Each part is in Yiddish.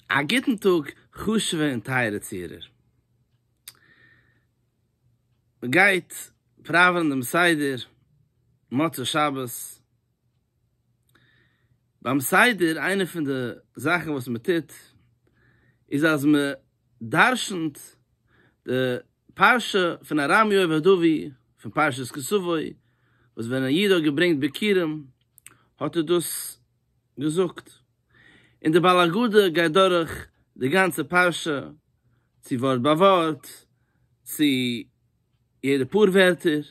א גוטן טאג חשוב'ע און טייערע צוהערער. מען גייט פראווענען דעם סדר מוצאי שבת. ביים סדר איינע פון די זאכן וואס מען טוט איז אז מען דרשנ'ט די פרשה פון ארם יואב הדווי פון פרשת כסווי וואס ווען א איד האט געברענגט ביכורים האט ער דאס געזאגט, און דער בעל הגדה גייט דורך די גאנצע פרשה, צו ווארט ביי ווארט, צו יעדע פאר ווערטער,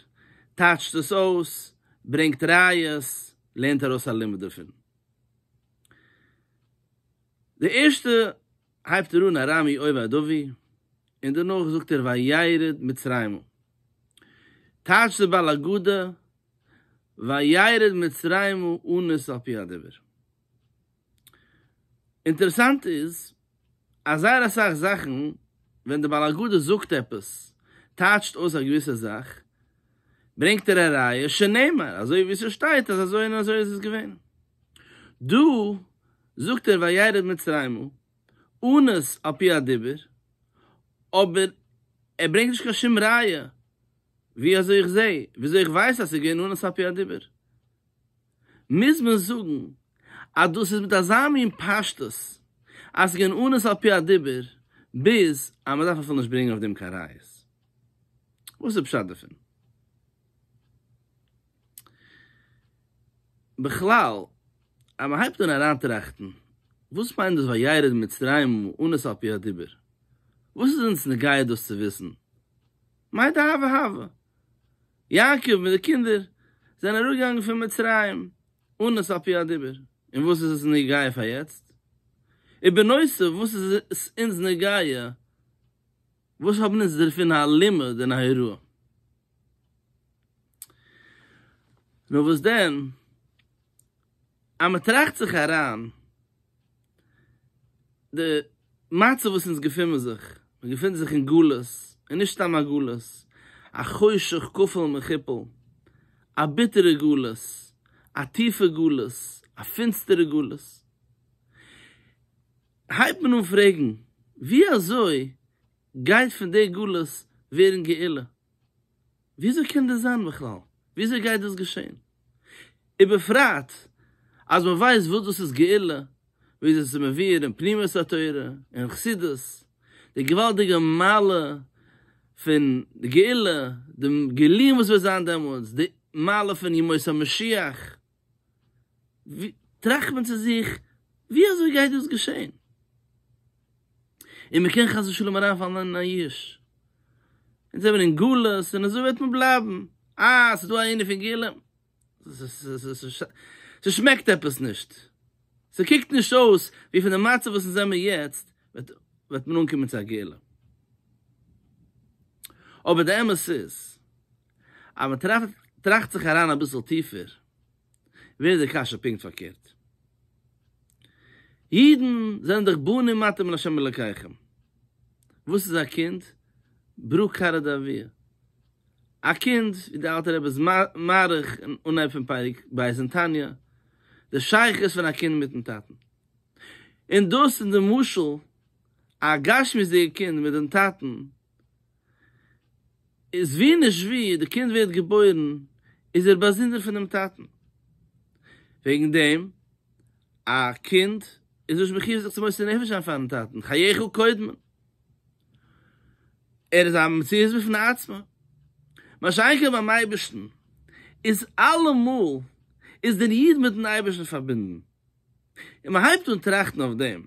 טייטשט עס אויס, ברענגט ראיות, לערנט ארויס א לימוד דערפון. די ערשטע הייבט ער אן ארמי אוי וויי דובי, און דערנאך זאגט ער וירד מצרימה. טייטשט דער בעל הגדה וירד מצרימה אנוס על פי הדבר. אינטערעסאנט איז אז זייער אסאך זאכן ווען דער בעל הגדה זאגט עפעס, טייטשט אויס א געוויסע זאך, ברענגט ער א ראיה שנאמר, אזוי ווי ס'שטייט אז אזוי און אזוי איז עס געווען. דא זאגט ער וירד מצרימה אנוס על פי הדיבור, אבער ער ברענגט נישט קיין שום ראיה ווי אזוי איך זעה, ווי אזוי איך ווייס אז עס איז געווען אנוס על פי הדיבור? מוז מען זאגן אז דאס איז מיט אזא מין פשטות אז עס איז געווען אנוס על פי הדיבור ביז אז מען דארף אפילו נישט ברענגען אויף דעם קיין ראיות? וואס איז פשט דערפון? בכלל, אז מען הייבט אן אריינטראכטן, וואס מיינט דאס וירד מצרימה אונס על פי הדיבור? וואס איז אונז נוגע דאס צו וויסן? מאי דהוה הוה? יעקב מיט די קינדער זענען אראפגעגאנגען פון מצרים אונס על פי הדיבור, און וואס איז עס נוגע פאר יעצט? ובנוסף וואס איז עס אונז נוגע וואס האבן אונז דערפון א לימוד און א הוראה? נו וואס דען, אז מען טראכט זיך אריין, די מצב וואס אונז געפונען זיך, מען געפונט זיך אין גלות, און נישט סתם א גלות, א חושך כפול מכופל, א ביטערע גלות, א טיפע גלות, א פינסטערע גלות, הייבט מען אן פרעגן, ווי אזוי גייט פון די גלות ווערן גאולה? ווי אזוי קען דאס זיין בכלל? ווי אזוי גייט דאס געשען? ובפרט אז מען ווייסט וואס דאס איז גאולה, ווי אזוי עס איז מבואר אין פנימיות התורה און חסידות, די געוואלדיגע מעלה פון גאולה, די גילויים וואס וועט זיין דעמאלטס, די מעלה פון ימות המשיח, טראכט מען צו זיך, ווי אזוי גייט דאס געשען? און מען קען חס ושלום אריינפאלן אין א יאוש, אונז זעמיר אין גלות און אזוי וועט מען בלייבן, אה, ס'איז דא א ענין פון גאולה? ס'שמעקט עפעס נישט, ס'קוקט נישט אויס ווי פון די מצב וואס אונז זעמיר יעצט וועט מען אנקומען צו א גאולה. אבער די אמת איז. אז מען טראכט זיך אריין אביסל טיפער ווערט די קשיא פונקט פארקערט. אידן זענען דאך בנים אתם לה' אלקיכם. וואס איז א קינד? ברא כרע דאביה. א קינד, ווי דער אלטער רבי איז מאריך אין אנהייב פון פרק ב' אין תניא, די שייכות פון א קינד מיט'ן טאטן. און דאס איז די משל, א גשמיות'דיגע קינד מיט דעם טאטן איז ווי נישט ווי די קינד ווערט געבוירן איז ער באזונדער פונעם טאטן, וועגן דעם א קינד איז נישט מחיוב זיך צו מוסר נפש זיין פארן טאטן, חייך קודמים, ער איז א מציאות בפני עצמה, מה שאין כן ביים אייבערשטן איז אלעמאל איז דער איד מיטן אייבערשטן פארבינדן, און מען הייבט אן טראכטן אויף דעם.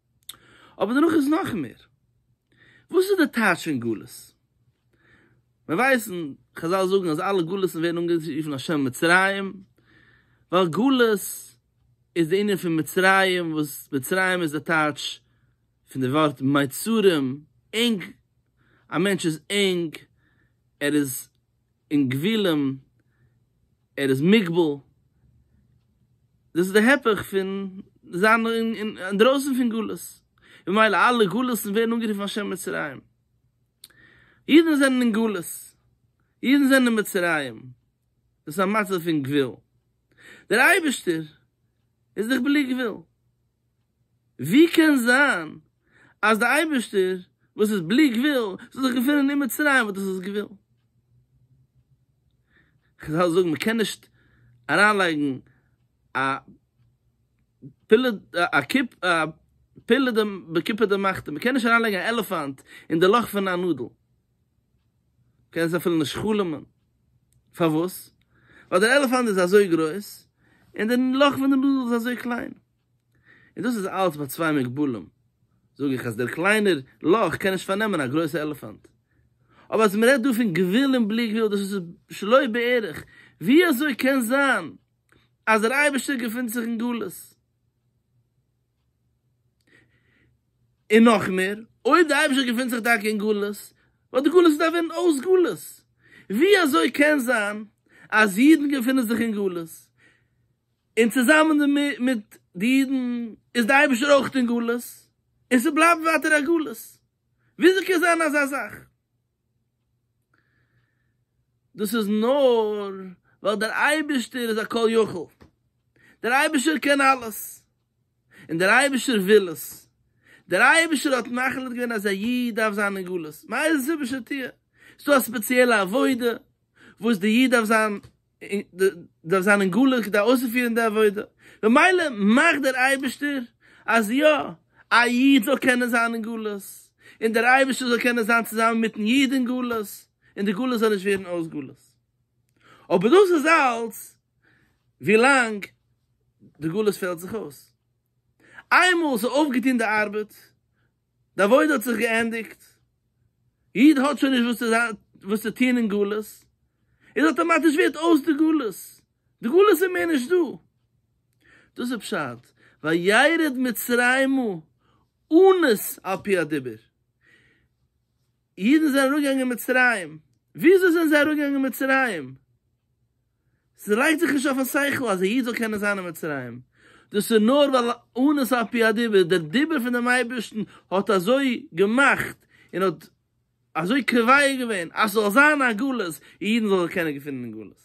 אבער דערנאך איז נאך מער. וואס איז די טייטש פון גלות? מיר ווייסן, חזל זאגן אז אלע גלות'ן ווערן אנגערופן על שם מצרים, ווייל גלות איז די ענין פון מצרים, וואס מצרים איז די טייטש פון די ווארט מיצרים, ענג, א מענטש איז ענג, ער איז אין גבולים, ער איז מוגבל, דאס איז די הפך פון זיין אינדרויסן פון גלות, ממילא אלע גלות'ן ווערן אנגערופן על שם מצרים, אידן זענען אין גלות, אידן זענען אין מצרים, דאס איז א מצב פון גבול, דער אייבערשטער איז דאך בלי גבול. ווי קען זיין אז דער אייבערשטער וואס איז בלי גבול זאל זיך געפונען אין מצרים וואס דאס איז גבול? כ'וועל אייך זאגן, מ'קען נישט אריינלייגן א פילע א קופ א פילע די בקופה דמחטא, מ'קען נישט אריינלייגן א עלעפאנט אין די לאך פון א נאדל, מ'קען עס אפילו נישט חלומ'ן, פארוואס? ווייל דער עלעפאנט איז אזוי גרויס און די לאך פון די נאדל איז אזוי קליין. און דאס איז אלץ ביי צוויי מוגבלים, זאג איך אז דער קליינער לאך קען נישט פארנעמען א גרויסע עלעפאנט. אבער אז מ'רעדט דא פון גבול און בלי גבול, דאס איז שלא בערך, ווי אזוי קען זיין אז דער אייבערשטער געפינט זיך אין גלות? און נאך מער, אויב דער אייבערשטער געפינט זיך טאקע אין גלות, וואלט די גלות געדארפט ווערן אויס גלות. ווי אזוי קען זיין אז אידן געפינען זיך אין גלות? און צוזאמען דערמיט מיט די אידן איז דער אייבערשטער אויך אין גלות, און ס'בלייבט ווייטער א גלות, וויאזוי קען זיין אזא זאך? דאס איז נאר ווייל דער אייבערשטער איז א כל יכול, דער אייבערשטער קען אלעס, און דער אייבערשטער וויל עס, דער אייבערשטער האט מחליט געווען אז א איד דארף זיין אין גלות, מאיזה סיבה שתהיה, ס'דא א ספעציעלע עבודה וואס די איד דארף זיין, דארף זיין אין גלות כדי אויסצופירן די עבודה, ממילא מאכט דער אייבערשטער אז יא, א איד זאל קענען זיין אין גלות, און דער אייבערשטער זאל קענען זיין צוזאמען מיט'ן איד אין גלות, און די גלות זאל נישט ווערן אויס גלות. אבער דאס איז אלץ ווילאנג די גלות פעלט זיך אויס. איינמאל ס'איז אויפגעטון די ארבעט, די עבודה האט זיך געענדיגט, איד האט שוין נישט וואס צו טון אין גלות, איז אטאמאטיש ווערט אויס די גלות, די גלות איז מער נישט דא, דאס איז פשט וירד מצרימה אונס על פי הדיבור. אידן זענען אראפגעגאנגען מצרים, וויאזוי זענען זיי אראפגעגאנגען מצרים? ס'לייגט זיך נישט אויפן שכל אז א איד זאל קענען זיין אין מצרים, דאס איז נאר ווייל אונס על פי הדיבור, דער דיבור פון דעם אייבערשטן האט אזוי געמאכט און האט אזוי קובע געווען אז ס'זאל זיין א גלות און אידן זאלן זיך קענען געפינען אין גלות,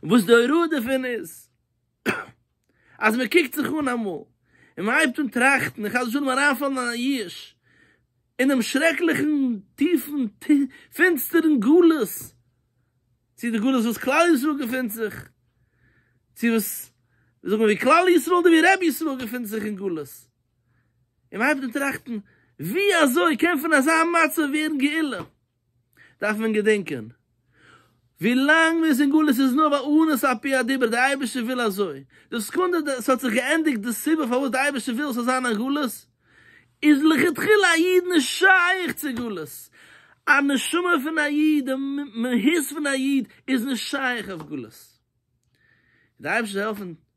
וואס די הוראה דערפון איז. אז מען קוקט זיך אן אמאל, און מען הייבט אן טראכטן, און חס ושלום אריינפאלן אין א ייאוש, אינעם שרעקליכן טיפן פינסטערן גלות, צו די גלות וואס כלל ישראל געפינט זיך, צו וואס, זאג מען ווי כלל ישראל אדער ווי רבי ישראל געפינט זיך אין גלות, און מען הייבט אן טראכטן, ווי אזוי קען פון אזא מצב ווערן גאולה? דארף מען געדענקען, ווי לאנג מ'איז אין גלות איז נאר ווייל אונס על פי הדיבור, דער אייבערשטער וויל אזוי. די סעקונדע ס'האט זיך געענדיגט די סיבה פארוואס דער אייבערשטער וויל ס'זאל זיין א גלות, איז לכתחילה א איד נישט שייך צו גלות. א נשמה פון א איד, די מהות פון א איד, איז נישט שייך אויף גלות. דער אייבערשטער זאל העלפן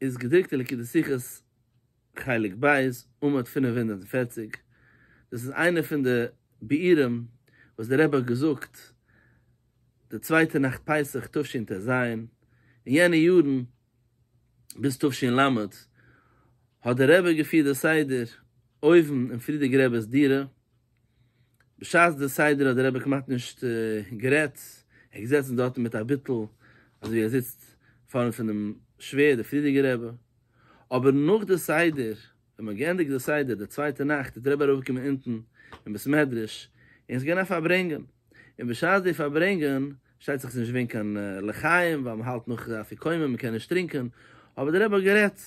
איז געדרוקט אין ליקוטי שיחות חלק ב' עמוד פֿינף הונדערט און פֿערציק, דאס איז איינע פון די ביאורים וואס דער רבי האט געזאגט די צווייטע נאכט פסח תשנ ט ז, אין יענע יארן ביז תשנ ל האט דער רבי געפירט די סדר אויבן אין פרידיגער רב'ס דירה, בשעת די סדר האט דער רבי כמעט נישט גערעדט, ער איז געזעצן דארטן מיט א ביטול, אזוי ווי ער זיצט פארנט פונעם שווער, דער פריערדיגער רבי. אבער נאך די סדר, ווען מ'האט געענדיגט די סדר די צווייטע נאכט, איז דער רבי אראפגעקומען אונטן אין בית מדרש, און עס איז געווען א פארברענגען. און בשעת זיי פארברענגען, שטייט זיך ס'נישט געווען קיין לחיים ווייל מ'האלט נאך אפיקומן מ'קען נישט טרינקען, אבער דער רבי האט גערעדט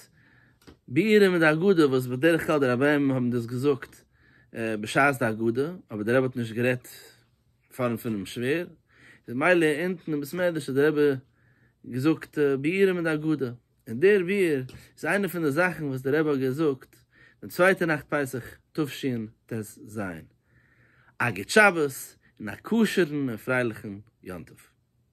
בעירום מיט די אגודה וואס בדרך כלל די רביים האבן דאס געזאגט בשעת די אגודה, אבער דער רבי האט נישט גערעדט פארנט פונעם שווער, איז מילא אונטן אין בית מדרש האט דער רבי געזאגט בעירום מיט די אגודה, און דער ביעור איז איינע פון די זאכן וואס דער רבי האט געזאגט די צווייטע נאכט פסח תשנ ט ז. א גוט שבת און א כשר'ן און פרייליכן יום טוב.